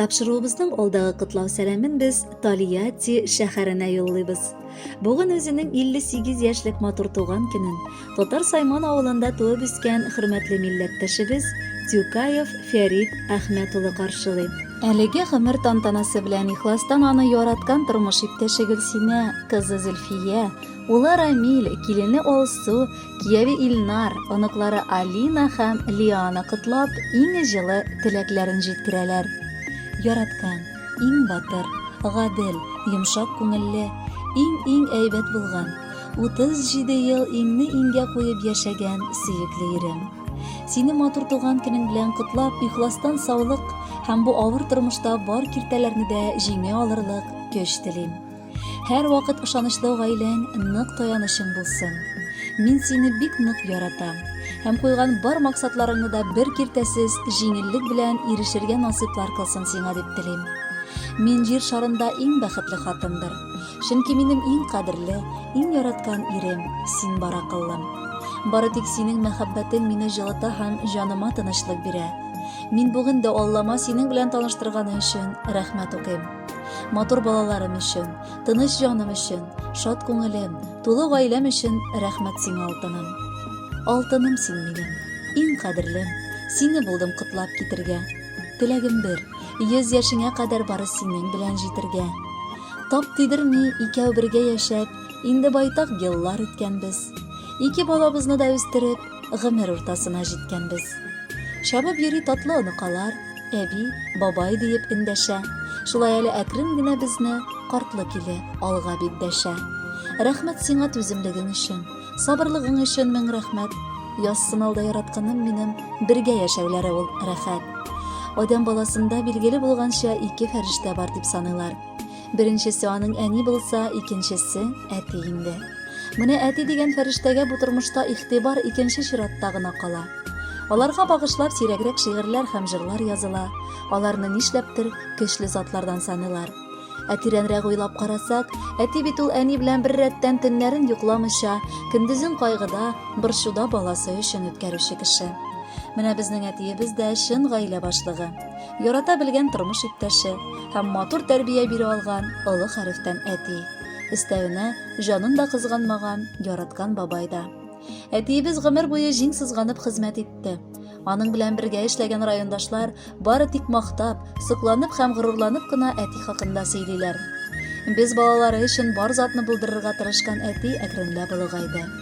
Тапшыруыбызның алдагы котлау сәламен без Талияти шәһәренә юллыйбыз. Бүген үзенең 58 яшьлек матур туган көнен Татар Сайман авылында туып үскән хөрмәтле милләттәшебез Тюкаев Фәрид Әхмәт улы каршылый. Әлеге гомер тантанасы белән ихластан аны яраткан тормыш иптәше Гөлсинә кызы Зөлфия, Улы Рамил, килене Алсу, кияве Илнар, оныклары Алина һәм Лиана котлап, иң җылы теләкләрен җиткерәләр. Яраткан, иң батыр, гадел, йомшак күңелле, иң-иң әйбәт булган, 37 ел иңне-иңгә куеп яшәгән сөекле ирем. Сине матур туган көнең белән котлап, ихластан саулык һәм бу авыр тормышта бар киртәләрне дә җиңә алырлык көч телим. Һәр вакыт ышанычлы гаиләң нык таянычың булсын. Мин сине бик нык яратам. Һәм куйган бар максатларыңны да бер киртәсез җиңеллек белән ирешергә насыйплар кылсын сиңа дип телим. Мин җир шарында иң бәхетле хатындыр. Чөнки минем иң кадерле, иң яраткан ирем, син бар акыллым. Бары тик синең мәхәббәтең мине җылыта һәм җаныма тынычлык бирә. Мин бүген дә Аллама синең белән таныштырганы өчен рәхмәт укыйм. Матур балаларым өчен, тыныч җаным өчен, шат күңелем, тулы гаиләм өчен рәхмәт сиңа, алтыным. Алтыным син минем, иң кадерлем, сине булдым котлап китергә. Теләгем бер, йөз яшеңә кадәр бары синең белән җитергә. Тап тидерми, икәү бергә яшәп, инде байтак еллар үткәнбез. Ике балабызны да үстереп, гомер уртасына җиткәнбез. Чабып йөри татлы оныкалар, әби, бабай диеп эндәшә. Шулай әле әкрен генә безне картлы киле алга бит дәшә. Рәхмәт сиңа түземлегең өчен, сабырлыгың өчен мең рәхмәт. Язсын алда яратканым минем, бергә яшәүләре ул рәхәт. Адәм баласында билгеле булганча ике фәрештә бар дип саныйлар. Беренчесе аның әни булса, икенчесе әти инде. Менә әти дигән фәрештәгә бу тормышта игътибар икенче чиратта гына кала. Аларга багышлап сирәгрәк шигырьләр һәм җырлар языла. Аларны нишләптер көчле затлардан саныйлар. Ә тирәнрәк уйлап карасак, әти бит ул әни белән бер рәттән төннәрен йокламыйча, көндезен кайгыда, борчуда баласы өчен үткәрүче кеше. Менә безнең әтиебез дә чын гаилә башлыгы. Ярата белгән тормыш иптәше һәм матур тәрбия бирә алган олы хәрефтән әти. Өстәвенә, җанын да кызганмаган, яраткан бабай да. Әтиебез гомер буе җиң сызганып хезмәт итте. Аның белән бергә эшләгән райондашлар бары тик мактап, сокланып һәм горурланып кына әти хакында сөйлиләр. Без балалары өчен бар затны булдырырга тырышкан әти әкренләп олыгайды.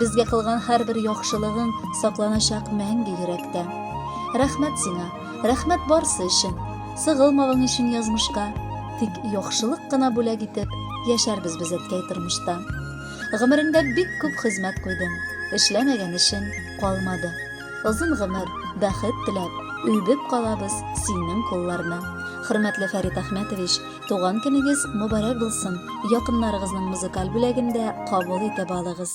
Безгә кылган һәрбер яхшылыгың сакланачак мәңге йөрәктә. Рәхмәт сиңа, рәхмәт барсы өчен. Сыгылмавың өчен язмышка, тик яхшылык кына бүләк итеп, яшәрбез без әткәй тормышта. Гомереңдә бик күп хезмәт куйдың, эшләмәгән эшең калмады. Озын гомер, бәхет теләп, өйбеп калабыз синең кулларны. Хөрмәтле Фәрит Әхмәтович, Туган көнегез мөбарәк булсын! Якыннарыгызның музыкаль бүләген дә кабул итеп алыгыз!